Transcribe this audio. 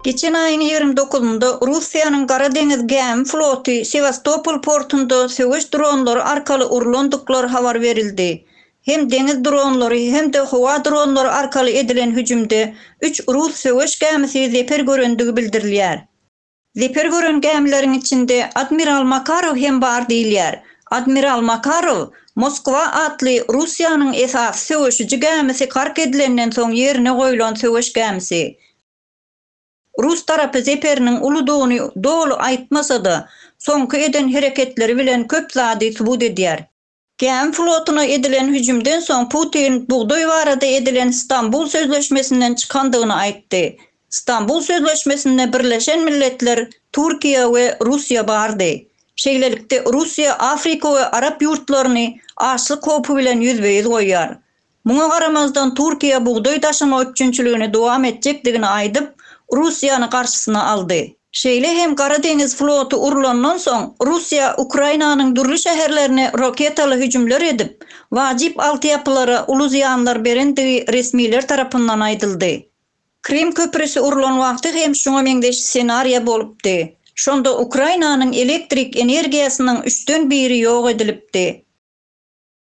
Geçen aýyň ýigrimi dokuzynda Russiýanyň Gara deňiz gämi floty Sewastopol portunda söweş dronlary arkaly urlandyklary habar berildi. Hem deňiz dronlary hem-de howa dronlary arkaly edilen hüjümde üç rus söweş gämisi zeper görendigi bildirilýär. Zeper gören gämileriň içinde admiral Makarow hem bar diýilýär. Admiral Makarow Moskwa atly Russiýanyň esasy söweşiji gämisi gark edilenden soň ýerine goýlan söweş gämisi. Rus tarapy Zeperiniň uludygyny doly aýtmasa-da, soňky eden hereketleri bilen köp zady subut edýär. Gämi flotuna edilen hüjümden soň Putin bugdaý barada edilen Stambul sözleşmesinden çykandygyny aýtdy. Stambul sözleşmesinde Birleşen Milletler, Türkiýe we Russiýa bardy. Şeýlelikde Russiýa Afrika we arap ýurtlaryny açlyk howpy bilen ýüzbe-ýüz goýýar. Muňa garamazdan Türkiýe bugdaý daşama üpjünçiligini dowam etjekdigini aýdyp, Russiýany garşysyna aldy. Şeýle hem Gara deňiz floty urlandan soň, Russiýa Ukrainanyň dürli şäherlerine roketaly hüjümler edip, wajyp altyapylara uly zyýanlar berendigi resmiler tarapyndan aýdyldy. Krym köprüsi urlan wagty hem şuňa meňzeş ssenariýa bolupdy. Şonda Ukrainanyň elektrik energiýasynyň üçden biri ýok edilipdi.